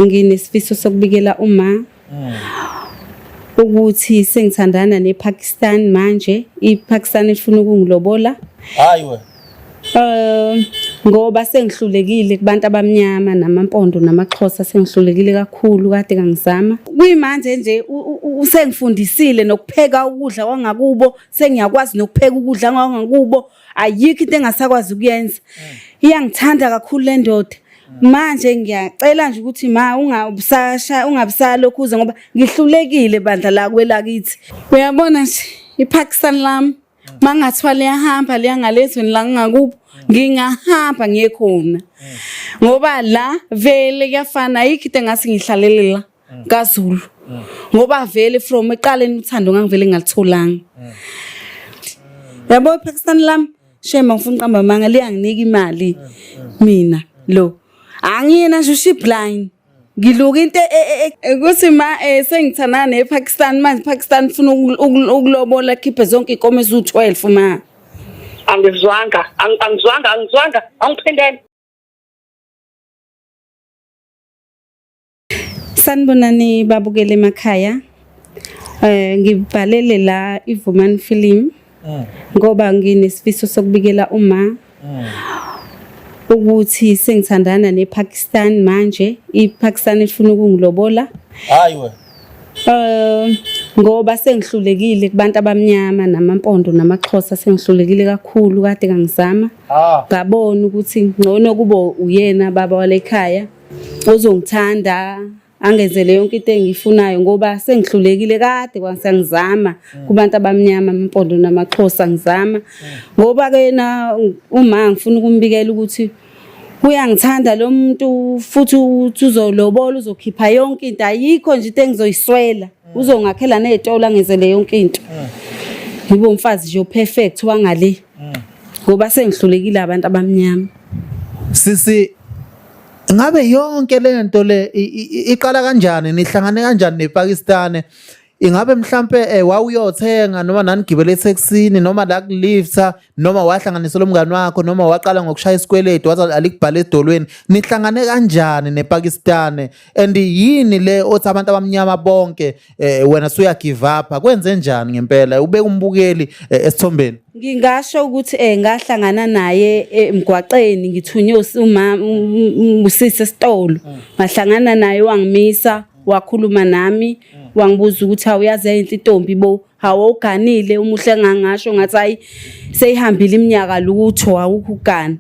Nginesifiso sokubikela uma hmm. ukuthi sengithandana nePakistan manje iPakistan ifuna ukungilobola hayi we eh ngoba sengihlulekile kubantu abamnyama namampondo namaxhosa sengihlulekile kakhulu kade kangizama kuyimanje nje usengifundisile nokupheka ukudla kwangakubo sengiyakwazi nokupheka ukudla kwangakubo ayikho into engasakwazi ukuyenza iyangithanda kakhulu le ndoda manje ngiyacela nje ukuthi ma ungabusasha ungabusalokhu uze ngoba ngihlulekile bandla la kwelakithi uyabona nje iPakistan lami mangathiwa liyahamba liya ngalezweni la ngingakubo ngingahamba ngiye khona ngoba la vele kuyafana ayikho into engase ngihlalele la mm. kaZulu mm. ngoba vele from eqaleni uthando ngangivele ngalitholanga mm. yabo iphakistan lam shema ngifuna uqamba manga liyanginika imali mina lo angiyena nje ushibline ngiluka into e, e, e, ukuthi ma eh, sengithana nePakistan manje Pakistan ufuna ukulobola khiphe zonke inkomo ezu12 ma angizwanga angizwanga angizwanga angiphendele Sanibonani babukele emakhaya. Eh ngibhalele la iVumani Film mm. ngoba nginesifiso sokubikela uma mm. ukuthi sengithandana nePakistan manje iPakistan ifuna ukungilobola. Hayi we. Eh ngoba sengihlulekile kubantu abamnyama namampondo namaxhosa sengihlulekile kakhulu kade kangizama. Ah. Ngabona ukuthi ngcono kubo uyena baba walekhaya. ozongithanda angenzele yonke into engiyifunayo ngoba sengihlulekile kade kwangsangizama mm. kubantu abamnyama amampondo namaxhosa ngizama ngoba ke na uma ngifuna ukumbikela ukuthi uyangithanda lo muntu futhi uthi uzolobola uzokhipha yonke into ayikho nje into engizoyiswela mm. uzongakhela nezitolo angenzele yonke into mm. ngibe umfazi nje perfect wangale ngoba sengihlulekile abantu abamnyama sisi ngabe yonke le nto le iqala kanjani nihlangane kanjani nepakistane ingabe mhlampe eh, wawuyothenga noma nanigibele ethekisini noma la kulifta noma wahlanganisela umngani wakho noma waqala ngokushaya isikweletu wathi alikubhala edolweni nihlangane kanjani nepakistane and yini le othi abantu abamnyama bonke eh wena suya give up kwenze njani ngempela ubeka umbukeli eh, esithombeni ngingasho ukuthi eh ngahlangana naye eh, emgwaqeni ngithunywe umama usisi esitolo ngahlangana naye wangimisa wakhuluma nami wangibuza ukuthi awuyazi yayinhle intombi bo hawuganile umuhle ngangasho ngathi hayi seyihambile iminyaka lutho awukho ugana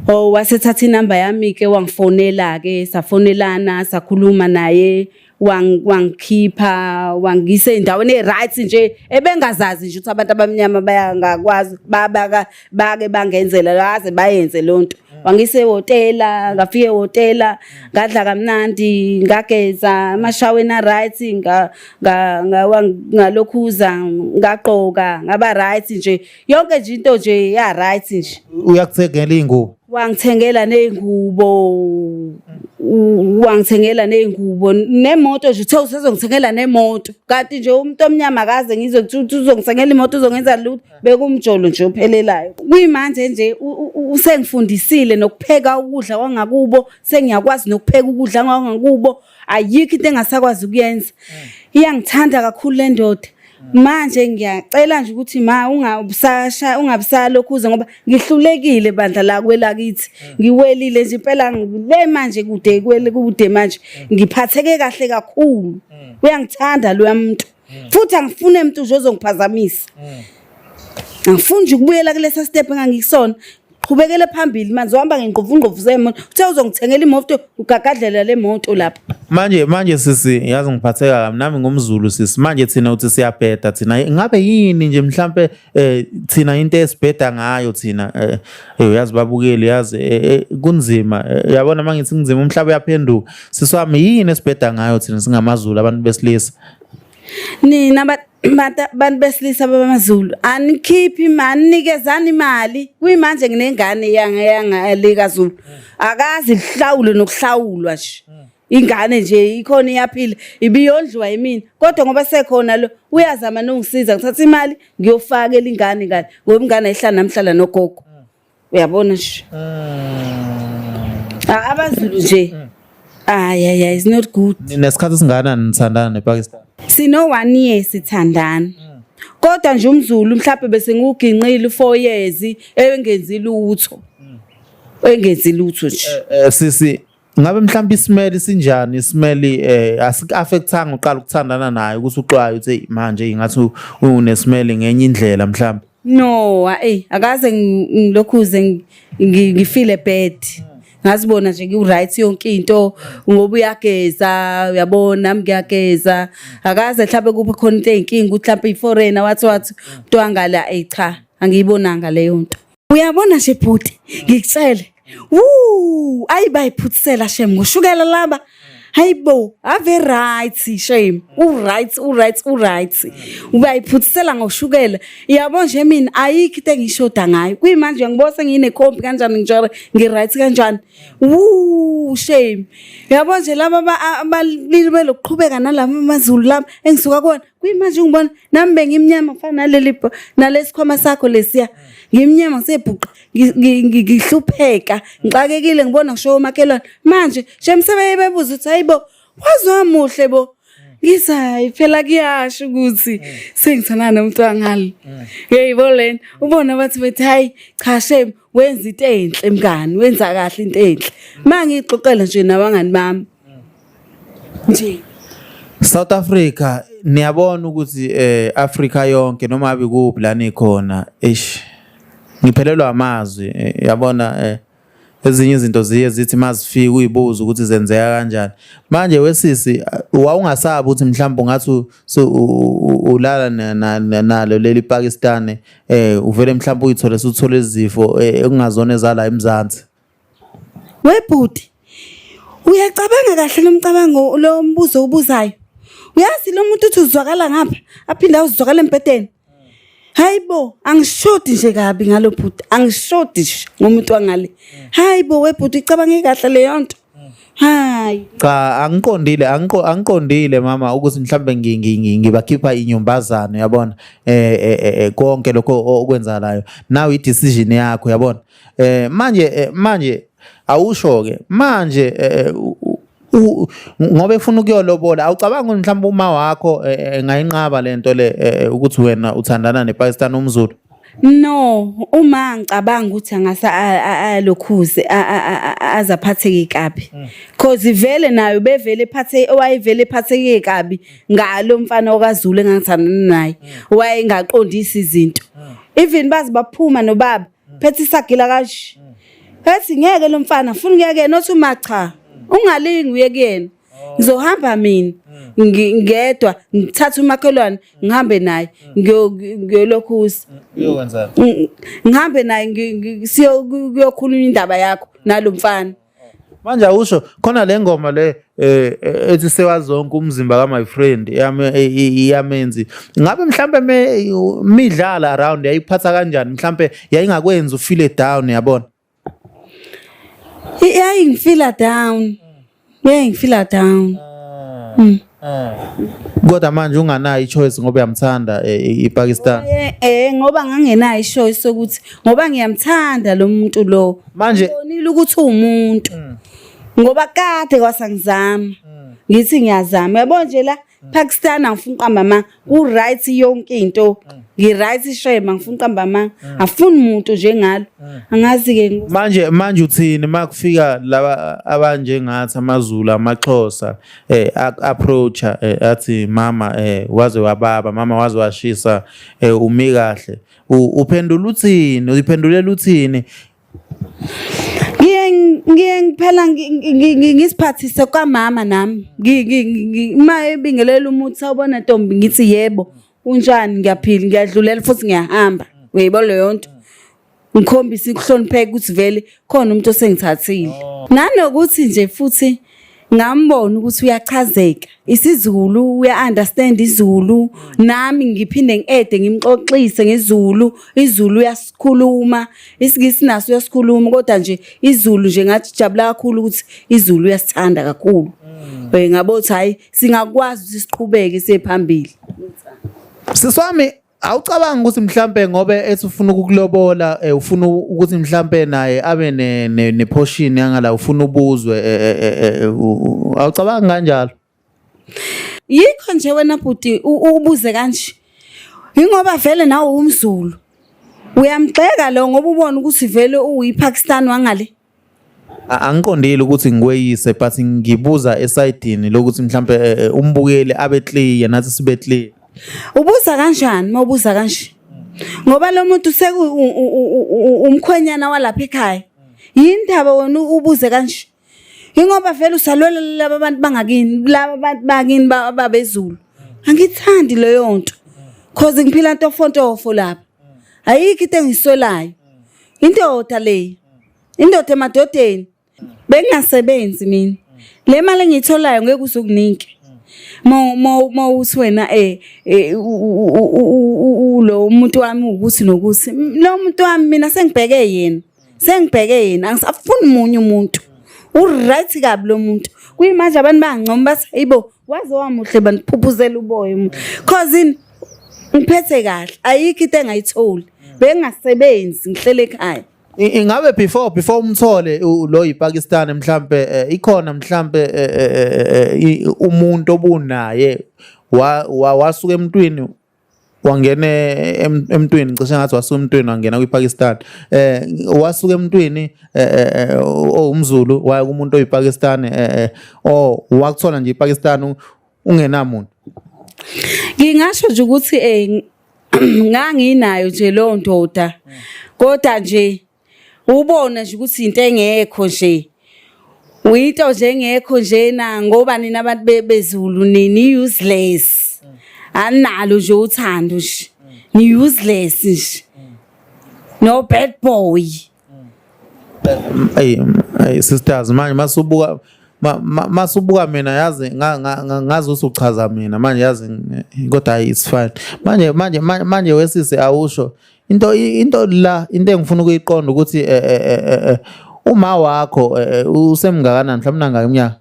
Oh wasethatha inamba yami ke wangifonela ke safonelana sakhuluma naye wangikhipha wangise endaweni e-right nje ebengazazi nje ukuthi abantu abamnyama bayangakwazi babaka bake bangenzela laze bayenze lonto wangise hotela ngafike hotela ngadla kamnandi ngageza amashaweni a-right ngalokhuza ngagqoka ngaba-right nje yonke nje into nje ya-right nje uyakuthengela iy'ngubo wangithengela ney'ngubo wangithengela ney'ngubo nemoto nje uthe usezongithengela nemoto kanti nje umuntu omnyama akaze ngizwe ukuthi uzongithengela imoto uzongenza lutho bekumjolo nje ophelelayo kuyimanje nje usengifundisile nokupheka ukudla kwangakubo sengiyakwazi nokupheka ukudla kwangakubo ayikho into engasakwazi ukuyenza iyangithanda kakhulu le ndoda manje ngiyacela nje ukuthi ma ungabusasha ungabusalokhu uze ngoba ngihlulekile bandla la kwelakithi ngiwelile nje impela ngile manje kude kwele kude manje ngiphatheke kahle kakhulu uyangithanda lo muntu mm. futhi angifune mntu nje ozongiphazamisa mm. angifuni nje ukubuyela kulesa step engangikusona qhubekele phambili manje uhamba ngengqovungqovu zemoto uthe uzongithengela imoto ugagadlela le moto lapho manje manje sisi ngiyazi ngiphatheka kabi nami ngumzulu sisi manje thina uthi siyabheda thina ngabe yini nje mhlampe eh thina into esibheda ngayo thina eh, eh uyazi babukeli yazi eh, eh, kunzima uyabona mangithi kunzima umhlaba uyaphenduka siswami yini esibheda ngayo thina singamazulu abantu besilisa nina bantu besilisa babamazulu anikhiphi imali nikezani imali kuyimanje nginengane yangalekazulu akazi lihlawule nokuhlawulwa nje ingane nje ikhona iyaphila ibiyondliwa yimina kodwa ngoba sekhona lo uyazama nongisiza ngithatha imali ngiyofaka elingane ngane ngoba ingane ayihlala namhlala nogogo mm. uyabona nje mm. abazulu nje mm. ay ay ay is not good nesikhathi singana nithandana nePakistan sino one year sithandana kodwa nje umzulu mhlawumbe bese ngiwuginqile u4 years engenzi lutho engenzi lutho nje eh, eh, sisi ngabe mhlawumbe isimeli sinjani isimeli eh asikuaffectanga uqala ukuthandana naye ukuthi uxwaye uthi manje ingathi unesimeli ngenye indlela mhlawumbe no hey akaze ngilokhuze ngifile bad ngazibona nje ngiwright yonke into ngoba uyageza uyabona nami ngiyageza akaze mhlawumbe kuphi khona into eyinkinga ukuthi mhlawumbe iforeigner wathi wathi mntwangala eyi cha angiyibonanga leyo nto Uyabona nje bhuti ngikucele. Woo, ayibayiphutsela shem ngoshukela laba. Hayibo, ave right shame. U right, u right, u right. Ubayiphutsela ngoshukela. Yabo nje mina ayikho into engishoda ngayo. Kuyimanje ngibose ngine comp kanjani ngijore ngi right kanjani. Woo, shame. Yabo nje laba abalili belokuqhubeka nalama mazulu lami engisuka kona kuyimanje ungibona nami bengimnyama ngifana naleli nalesikhwama sakho lesiya ngimnyama ngisebhuqa ngihlupheka ngixakekile ngibona ngisho omakhelwane manje shem sebeyebebuza ukuthi hayibo wazomuhle bo ngithi hayi phela kuyasho ukuthi mm. sengithana nomuntu wangalo mm. yeyibo lena ubona bathi bethi hayi cha shem wenza into enhle mngani wenza kahle into enhle uma ngiyixoxela nje nabangani bami nje South Africa niyabona ukuthi eh Africa yonke noma abi kuphi la nikhona eish ngiphelelwa amazwi eh, yabona eh ezinye izinto ziye zithi mazifika uyibuza ukuthi zenzeka kanjani manje wesisi wawungasabi ukuthi mhlawumbe ungathi ulala nalo leli Pakistan eh uvele mhlawumbe uyithole suthole izifo eh, ekungazona ezala eMzansi Webhuti, uyacabanga kahle lomcabango lo mbuzo ubuzayo. Uyazi lo muntu uthi uzwakala ngapha, aphinde awuzwakala embhedeni. Hayibo, angishodi nje kabi ngalo bhuti, angishodi nje ngomuntu wangale. Hayibo webhuti ucabange kahle leyo nto. Hayi. Cha angiqondile angiqo angiqondile mama ukuthi mhlambe ngi- ngi- ngi- ngibakhipha inyumbazane yabona eh eh, eh, eh, konke lokho o- okwenzakalayo now i decision yakho yabona eh manje eh, manje awusho ke manje eh, eh, ngoba efuna ukuyolobola awucabanga ukuthi mhlawumbe uma wakho engayinqaba lento le ukuthi wena uthandana nePakistan umZulu No, uma ngicabanga ukuthi angase alokhuze azaphatheke kabi. Mm. Cause vele nayo bevele phathe owayevele phatheke kabi ngalo mfana okaZulu engangithandana naye. Mm. Wayengaqondisi izinto. Mm. Even bazi baphuma nobaba phethe isagila kanje ethi ngeke lo mfana funa ngeke nothi uma cha ungalingi uye kuyena ngizohamba mina ngedwa ngithatha umakhelwane ngihambe naye ngiyolokhuza ngihambe naye siyokhuluma indaba yakho nalomfana manje awusho khona le ngoma le eh, eh, ethi sewazonke umzimba ka my friend iyamenzi ngabe mhlambe midlala around yayiphatha kanjani mhlambe yayingakwenza ufile down yabona yayingifila down yayingifila down ah. hmm. Eh. Kodwa manje unganayo ichoice ngoba uyamthanda eh, i- iPakistan. Eh, eh ngoba ngangenayo ishoyo sokuthi ngoba ngiyamthanda lo muntu lo Manje- ngibonile ukuthi uwumuntu ngoba kade kwasangizama ngithi ngiyazama yabo nje la Pakistan angifuni uqamba amanga ku-right yonke into ngi-right shema ngifuna uqamba amanga afuni muntu njengalo angazi-ke ngo- manje manje uthini uma kufika laba abanjengathi amazulu amaxhosa eh a- approacha eh, athi mama eh waze wababa mama waze washisa eh umi kahle U- uphendula uthini uyiphendulela uthini ngiye ngiye ngiphela ngisiphathise kwamama nami uma ebingelela umuthi sawubona ntombi ngithi yebo unjani ngiyaphila ngiyadlulela futhi ngiyahamba uyibo leyo nto ngikhombisa ukuhlonipheka ukuthi vele khona umuntu osengithathile oh. nanokuthi nje futhi ngambona ukuthi uyachazeka isiZulu uya-understand iZulu nami ngiphinde ngi-ede ngimxoxise ngeZulu iZulu uyasikhuluma isiNgisi naso uyasikhuluma kodwa nje iZulu nje ngathi jabula kakhulu ukuthi iZulu uyasithanda kakhulu mm. eh, ngabo ukuthi hhayi singakwazi ukuthi siqhubeke siye phambili siswami awucabanga ukuthi mhlampe ngobe ethi ufuna ukukulobola eh, ufuna ukuthi mhlampe naye abe ne, ne, ne portion yangala ufuna ubuzwe eh, eh, eh, eh, eh, u- u- awucabanga kanjalo yikho nje wena bhuti u- u- ubuze kanje yingoba vele nawe umzulu uyamgxeka lo ngoba ubona ukuthi vele uyiPakistan wangale angiqondile ukuthi ngikweyise but ngibuza esayidini lokuthi mhlampe eh, eh, umbukeli abe clear nathi sibe clear ubuza kanjani mawubuza kanje ngoba lo muntu seku umkhwenyana walapha ekhaya yini ndaba wena ubuze kanje ingoba vele usalwela laba abantu bangakini laba abantu bakini babezulu angithandi leyo nto cause ngiphila ntofontofo lapha ayikho into engisolayo indoda le indoda emadodeni bengingasebenzi mina le mali engiyitholayo ngeke uzokunike mo mo mo uthi wena eh, eh lo muntu wami ukuthi nokuthi lo muntu wami mina sengibheke yena sengibheke yena angisafuni munye umuntu uright kabi lo muntu kuyimanje abantu bangincoma bathi hayibo waze wamuhle bantu phuphuzela uboya umuntu cause in ngiphethe kahle ayikho into engayitholi bengasebenzi ngihlele ekhaya ingabe before before umthole lo yiPakistan mhlambe eh, ikhona mhlambe eh, eh, umuntu obunaye wasuka emntwini wangena emntwini cishe ngathi wasuka emntwini wangena kwiPakistan eh wasuka emntwini eh, eh, eh, oh, umZulu waya kumuntu oyiPakistan eh oh wakuthola nje iPakistan ungenamuntu ngingasho nje ukuthi eh nganginayo nje leyo ndoda kodwa nje ubona nje ukuthi into engekho nje uyinto nje engekho njena ngoba nina abantu bezulu nini useless analo nje uthando nje ni useless nje no bad boy ay ay sisters manje masubuka masubuka mina yazi ngazi usuchaza mina manje yazi kodwa it's fine manje manje manje wesisi awusho into into la into engifuna ukuyiqonda ukuthi eh, eh, eh, uma wakho usemngakanani mhlawumbe nangaka iminyaka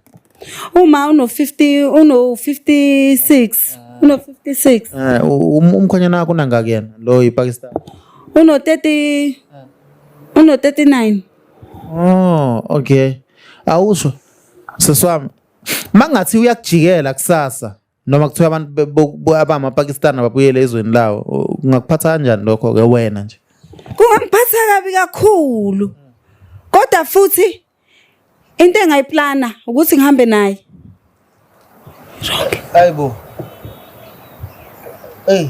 uma uno 50 uno 56 uno 56 eh um, umkhonyana wakho unangaka yena lo yiPakistan uno 30 uno 39 oh okay awusho seswami mangathi uyakujikela kusasa noma kuthiwa abantu be- bo- bo- abamapakistani ababuyele ezweni lawo u- kungakuphatha kanjani lokho-ke wena nje kungangiphatha kabi kakhulu kodwa futhi into engayiplana ukuthi ngihambe naye hayi bo eyi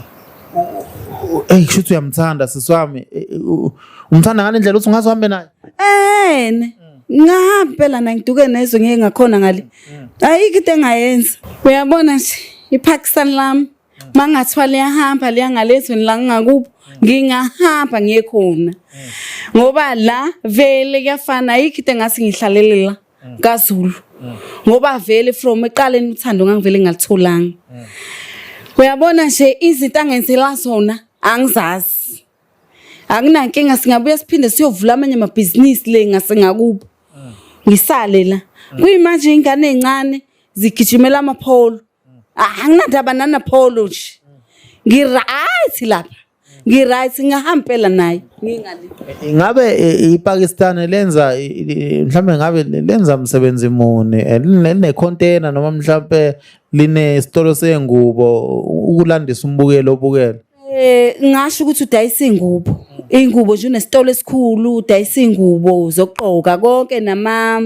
eyi kusho ukuthi uyamthanda sisi wami Eh, eh, u- umthanda ngale ndlela ukuthi ungaze uhambe naye ene ngahambi phela nangiduke nezwe ngeke ngakhona ngale ayikho into engayenza uyabona nje iPakistan lami mangathiwa liyahamba liya ngalezweni la ngingakubo ngingahamba ngiye khona ngoba la vele kuyafana ayikho into engathi ngihlalele la kaZulu ngoba vele from eqaleni uthando ngangivele ngalitholanga uyabona nje izinto angenzela zona angizazi Akunankinga singabuya siphinde siyovula amanye amabhizinisi le ngase ngakubo. Ngisale la. Kuyimanje ingane ezincane zigijimela amapholo. Anginandaba nana pholo nje. Ngi right lapha. Ngi right ngahambela naye. Ngingale. Ingabe eh, iPakistan lenza i- i- mhlambe ngabe lenza umsebenzi muni Eh, line line container noma mhlambe line isitolo sengubo u- ukulandisa umbukelo obukele Eh ngasho ukuthi udayisa ingubo. Ingubo nje unesitolo esikhulu udayisa ingubo zokugqoka konke nama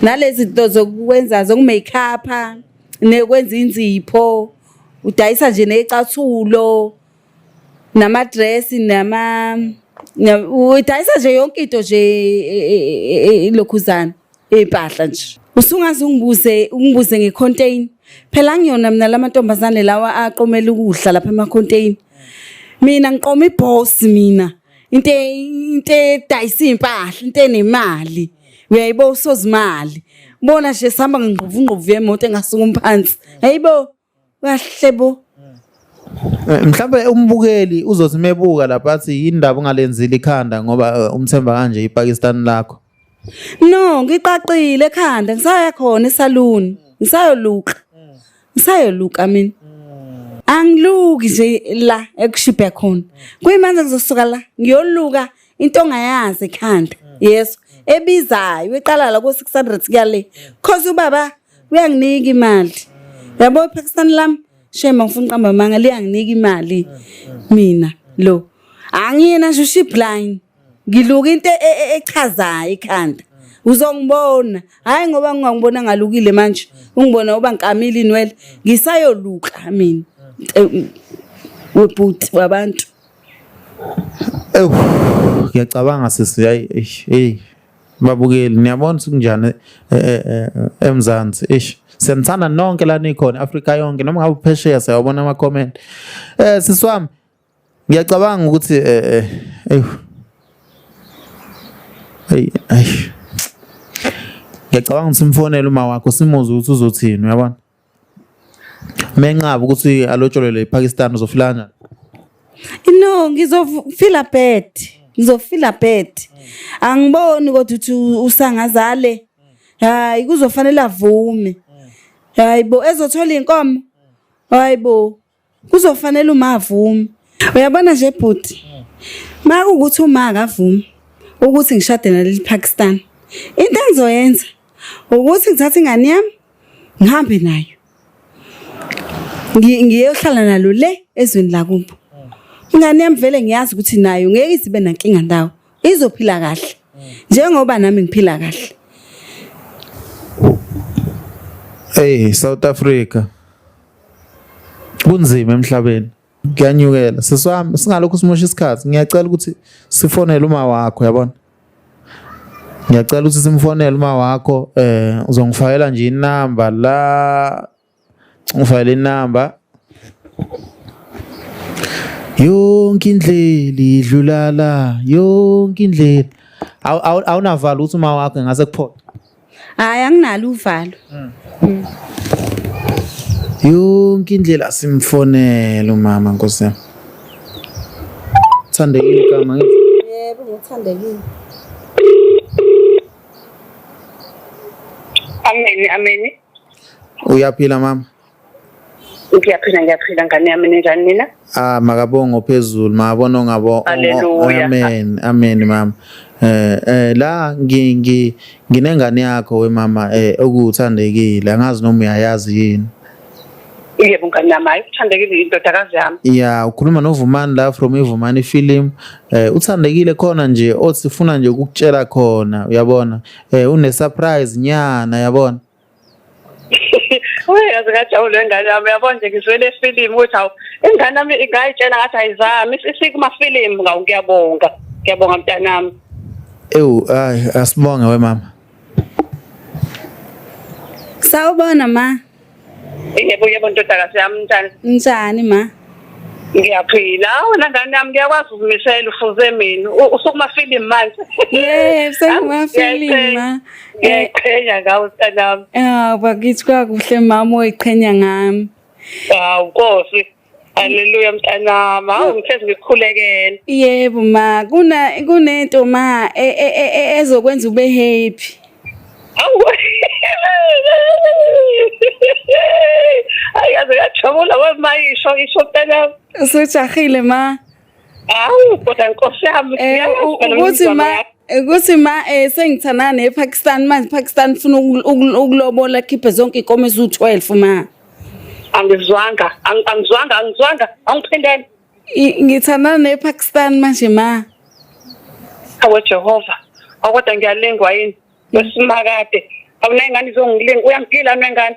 nalezi zinto zokwenza zokumakeup nekwenza inzipho udayisa nje necathulo nama dress nama udayisa nje yonke into nje e, e, e, lokhuzana impahla nje usungaze ungibuze ungibuze ngecontain phela ngiyona mina lamantombazane lawa aqomela ukudla lapha emacontain mina ngiqoma iboss mina into into edayisa impahla into enemali uyayibo usozimali bona nje sihamba ngingqovu ngqovu yemoto engasuka umphansi hayibo kahle bo Eh, mhlawumbe umbukeli uzothi mebuka lapha athi yini ndaba ungalenzile ikhanda ngoba eh, umthemba kanje iPakistan lakho no ngiqaqile ekhanda ngisaya khona esalon ngisayoluka ngisayoluka mina angiluki nje la ekushibhe khona kuyimanje ngizosuka la ngiyoluka into ongayazi ekhanda yeso ebizayo eqala la ko 600 kuyale cause ubaba kuyanginika imali yabo iphakisani lami shema ngifuna uqamba amanga liyanginika imali mina lo angiyena nje uship line ngiluka into e, e, echazayo ikhanda uzongibona hayi ngoba ngingangibona ngalukile manje ungibona uba ngikamile inwele ngisayoluka mina webhuti wabantu ewu ngiyacabanga sisi hayi hey babukeli niyabona ukuthi kunjani eh, eh, eh, eMzansi ish siyanithanda nonke la nikhona Africa yonke noma ngabe phesheya siyabona ama comment eh siswami ngiyacabanga ukuthi eh eh hey ay ngiyacabanga ukuthi simfonele uma wakho simuzwe ukuthi uzothini uyabona menqaba ukuthi alotsholelwe ipakistan uzofila kanjani no ngizofila bad ngizofila bad angiboni kodwa ukuthi usangazale hayi kuzofanele avume hayi bo ezothola inkomo hayi bo kuzofanele uma avume uyabona nje bhuti uma kuwukuthi uma akavume ukuthi ngishade naleli Pakistan into engizoyenza ukuthi ngithathe ingane yami ngihambe nayo ngiyohlala nalo le ezweni lakubo ingane yami vele ngiyazi ukuthi nayo ngeke izibe nankinga ndawo izophila kahle njengoba nami ngiphila kahle hey South Africa kunzima emhlabeni kuyanyukela seswami singalokho simosha isikhathi ngiyacela ukuthi sifonele uma wakho yabona ngiyacela ukuthi simfonele uma wakho eh uzongifayela nje inamba la Ngifayele inamba. Yonke indlela idlulala, yonke indlela. Awu- awu- Awunavalo uthi uma wakhe ngase kuphola. Hayi anginalo uvalo. Yonke indlela simfonela umama Nkosi yami. Thandekile igama ngithi. Yebo ngithandekile. Ameni, ameni. Uyaphila mama? Ngiyaphila ngiyaphila ngane yami ninjani nina? Ah makabongo phezulu mabona ngabo. Amen amen mama. Eh eh la ngi ngi nginengane yakho we mama eh okuthandekile angazi noma uyayazi yini. Yebo ngane yami ayithandekile indodakazi yami. Yeah ukhuluma noVumani la from iVumani film eh uthandekile khona nje othi sifuna nje ukukutshela khona uyabona eh une surprise nyana yabona Uye yazi ngajabule ngane yami yabona nje ngizwele film ukuthi awu ingane yami ingayitshela ngathi ayizami isikuma film ngawu ngiyabonga ngiyabonga mntanami Ewu ay asibonge we mama Sawubona ma Yebo yebo ndodakazi yami njani? Njani ma? Ngiyaphila. Wena ngane yami ngiyakwazi ukumisela ufuze mina. Usukuma film manje. Yebo, senguma film ma. Ngiyayiqhenya ngawe sanami. Ah, bakithi kwakuhle mama oyiqhenya ngami. Hawu Nkosi. Haleluya mntanami. Hawu ngitheze ngikhulekele. Yebo ma, kuna kunento ma e, e, e, ezokwenza ube happy. Hawu. Ayaze yajabula wemayisho isho mntanami. Usujahile ma. Awu kodwa nkosi yami eh, ukuthi ma ukuthi ma eh sengithandana nePakistan manje Pakistan ufuna ukulobola khiphe zonke inkomo ezu12 ma Angizwanga angizwanga angizwanga awuphindele Ngithandana nePakistan manje ma Awe Jehova akodwa ngiyalengwa yini wesimaka kade awunengane izongilinga uyangigila nengane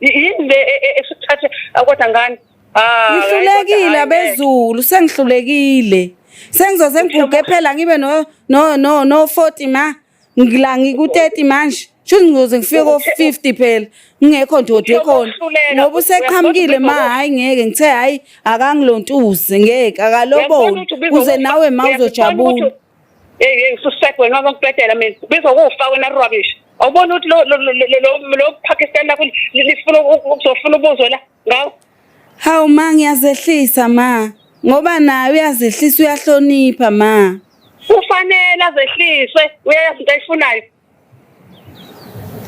yini le e- e- esithathe kodwa ngani Ah, ngihlulekile kodwa, abezulu sengihlulekile sengizoze ngiguge phela ngibe no no no no 40 ma ngila ngiku 30 manje shuthi ngizoze ngifike ko 50 phela ngingekho ndoda ekhona Uyokuhluleka. ngoba useqhamukile ma Uyabona hayi ngeke ngithe hayi akangilontuze ngeke Uyabona akaloboni ukuthi ubiza kuze ukuthi- nawe ma uyabona uzojabula ukuthi- Hey hey suspect wena waba kubhedela mina. Bizo kufa wena rubbish. Awubona ukuthi lo lo lo Pakistan lakho lifuna ukuzofuna ubuzwe la ngawo. Hawu ma ngiyazehlisa ma. Ngoba naye uyazehlisa uyahlonipha ma. Kufanele azehliswe uyayazi into ayifunayo.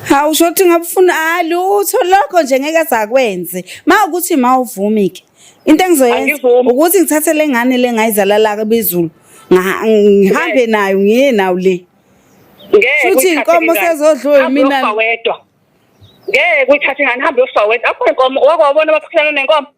Hawu usho ukuthi ngabufuna halutho ah, lokho nje ngeke azakwenze. Mawukuthi mawuvumi ke. Into engizoyenza ukuthi ngithathe lengane lengayizala la kebezulu. Ngihambe nayo ngiye nawo le. Ngeke futhi inkomo sezodlula mina. Ngeke uyithathe ngani hambe uyofa wedwa. Akho inkomo wakwabona abaphikisana nenkomo.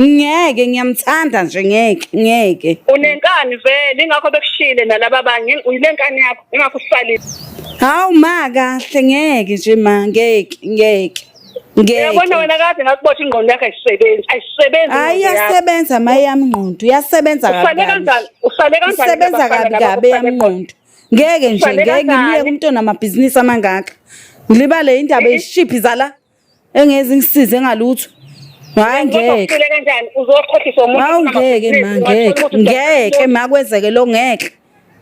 ngeke ngiyamthanda nje ngeke ngeke unenkani vele ingakho bekushile nalaba banye uyilenkani yakho ingakho usalile hawu ma kahle ngeke nje ma ngeke ngeke Ngiyabona wena kade ngakubotha ingqondo yakhe ayisebenzi ayisebenzi Hayi yasebenza maye yamngqondo yasebenza kabi Usale kanjani usale kanjani Isebenza kabi kabi yamngqondo Ngeke nje ngeke ngiye kumntwana amabhizinisi amangaka Ngilibale indaba yeshiphi zala engezi ngisize ngalutho hayi ngeke kanjani uzokhohlisa umuntu hawu ngeke ma ngeke ngeke ma kwenzeke lo ngeke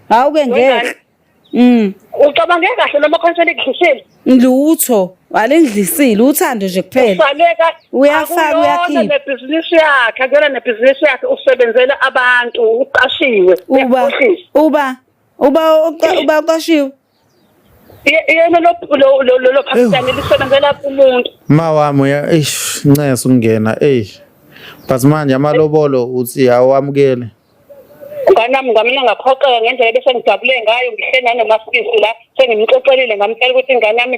hawu ke ngeke Mm. Ucabange kahle noma khona ngidlisile? Lutho, walengidlisile uthando nje kuphela. Usaleka uyafaka uyakhipha. Nebhizinisi yakhe, akuyona nebhizinisi yakhe usebenzela abantu, uqashiwe. Uba uba uba uba uqashiwe. yena lolo phakisane lisebenzela umuntu ma wami eish nceso ukungena eyi but manje amalobolo uthi awamukele nganami ngamina ngaphoxeka ngendlela bese ngijabule ngayo ngihle nanomasisi la sengimxoxelile ngamtshela ukuthi ingane yami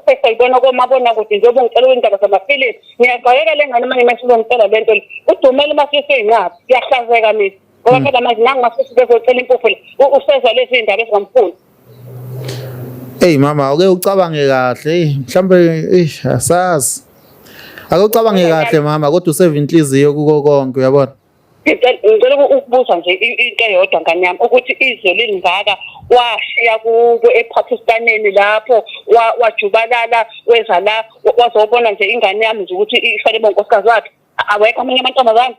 sesiyibona komabona kude njengoba ngicela kwindaba zamafilisi ngiyagqayeka le ngane uma ngimesizongitshela le nto le udumele uma siseyinqaba kuyahlazeka mina ngoba hmm. phela manje nangu mafisa bezocela impuphu le usezwa lezi zindaba ezingamfuni Hey mama ake ucabange kahle hey mhlambe eish asazi Ake ucabange kahle mama kodwa useve inhliziyo kuko konke uyabona ngicela ukubuza nje into eyodwa ngane yami ukuthi izwe lilingaka washiya kubo ePakistaneni lapho wajubalala weza la wazobona nje ingane yami nje ukuthi ifanele bonkosikazi wakhe awekho amanye amantombazane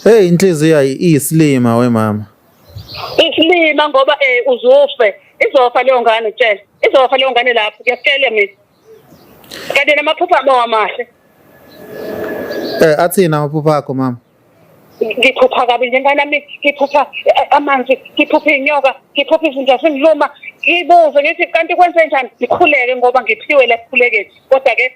Hey inhliziyo iyisilima wemama. Isilima ngoba eh uzofe. Izofa leyo ngane tshela. Izofa leyo ngane lapho kuyakutshela mina. Kanti namaphupha abo amahle. Eh athina amaphupha akho mama. Ngiphupha kabi njengani nami ngiphupha eh, amanzi, ngiphupha inyoka, ngiphupha izinja zingiluma. Ngibuze ngithi kanti kwenze njani? Ngikhuleke ngoba ngiphiwe la kukhuleke. Kodwa ke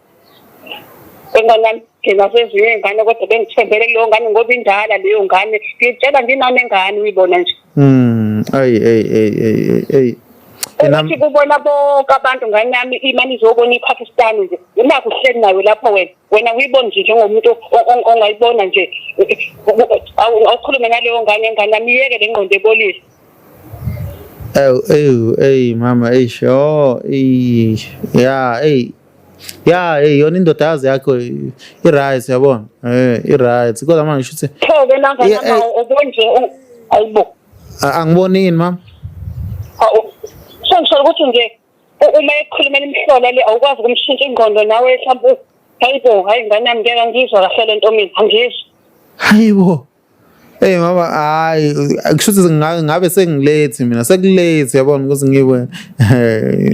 Enganami thina sezinye ingane kodwa bengithembele leyo ngane ngoba indala leyo ngane ngitshela nginami engane uyibona nje. Mm ay ay ay ay ay Ukuthi kubona bonke abantu ngane yami imani izobona iPakistan nje unakho uhleli nayo lapho wena wena uyibona nje njengomuntu ongayibona nje awukhulume naleyo ngane ngane yami yeke le ngqondo ebolile Oh, oh, hey, mama, hey, sure, hey, yeah, hey. ya hey yona indoda yazi yakho i-right yabona um eh, i-right kodwa manje shuthi thoke nanganama obonje ayibo angibonini mama sengisholo ukuthi nje uma ekhulumela imihlola le awukwazi ukumshintsha ingqondo nawe mhlawumbe hayibo hayi ngane yami ngeke angizwa kahle le nto mina angizwa hayibo Hey mama hayi kusho ukuthi ngabe sengilethi mina sekulethi yabona ukuthi ngiwe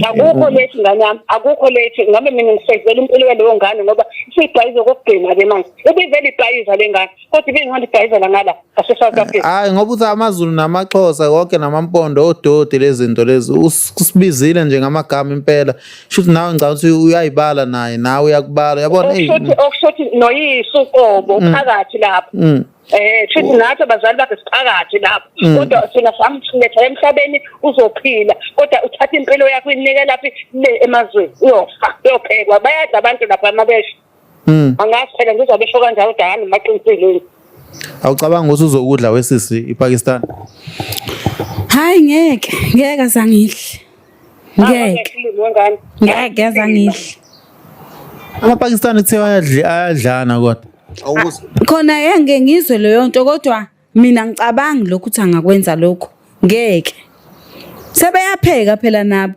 Akukho lethi ngane yami akukho lethi ngabe mina ngisevela impilo yaleyo ngane ngoba isibhayizo kokugcina ke manje ubivele ibhayiza lengane kodwa ibingihamba ibhayiza la ngala ngase South Africa Hayi ngoba uthi amaZulu namaXhosa konke namampondo ododi lezinto lezi usibizile nje ngamagama impela shuthi nawe ngicabanga ukuthi uyayibala naye nawe uyakubala yabona okushuthi noyisu qobo mm. phakathi lapho mm. Eh futhi oh. nathi abazali bakhe siphakathi lapho mm. kodwa sina samletha emhlabeni uzophila kodwa uthatha impilo yakho inikela laphi le emazweni uyofa uyophekwa bayadla abantu lapha amabesha Mm. Angazi phela ngizobe esho kanjalo kodwa hhayi maqinisile. Awucabanga ukuthi uzokudla wesisi iPakistan? Hayi ngeke, ngeke azangihle. Ngeke. Ngeke azangihle. AmaPakistani kuthiwa ayadli ayadlana kodwa. Awubuze. Khona yenge ngizwe leyo nto kodwa mina ngicabangi lokhu ukuthi angakwenza lokho. Ngeke. Sebeyapheka phela nabo.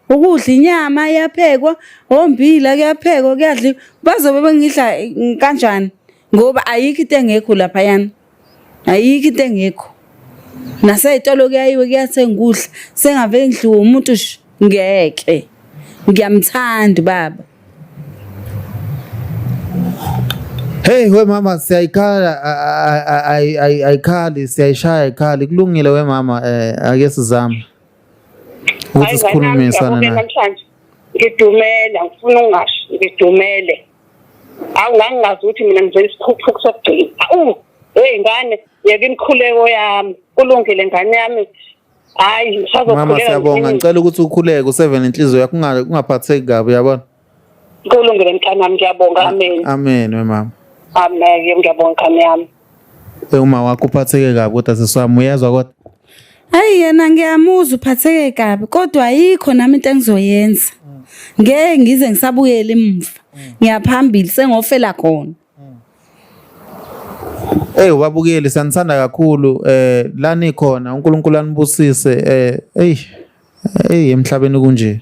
ukudla inyama iyaphekwa ombila kuyaphekwa kuyadliwa bazobe bengidla mm, kanjani ngoba ayikho into engekho laphayana ayikho into engekho nasey'tolo kuyayiwe kuyathenga ukudla sengave ngidliwe umuntu ngeke ngiyamthanda ubaba Hey we mama siyayikhala ayikhali siyayishaya ayikhali kulungile we mama eh ake sizame ukuthi sikhulumisane naye namhlanje ngidumela ngifuna ungasho ngidumele awu ngangingazi ukuthi mina ngizela isikhuphuku sokugcina awu hey ngane yeke imikhuleko yami kulungile ngane yami hayi ngisazokhuleka mama siyabonga ngicela ukuthi ukhuleke usevele inhliziyo yakho ungaphatheki kabi uyabona Kulungile mntanami ngiyabonga amen. Amen wemama. Amen ngiyabonga mkhami yami. Uma wakho uphatheke kabi kodwa seswami uyezwa kodwa. Hayi yena ngiyamuzwa uphatheke kabi kodwa ayikho nami into engizoyenza. Ngeke ngize ngisabuyele emuva. Ngiyaphambili sengofela khona. Hey ubabukeli sanithanda kakhulu eh lani khona uNkulunkulu anibusise eh hey Hey emhlabeni kunje.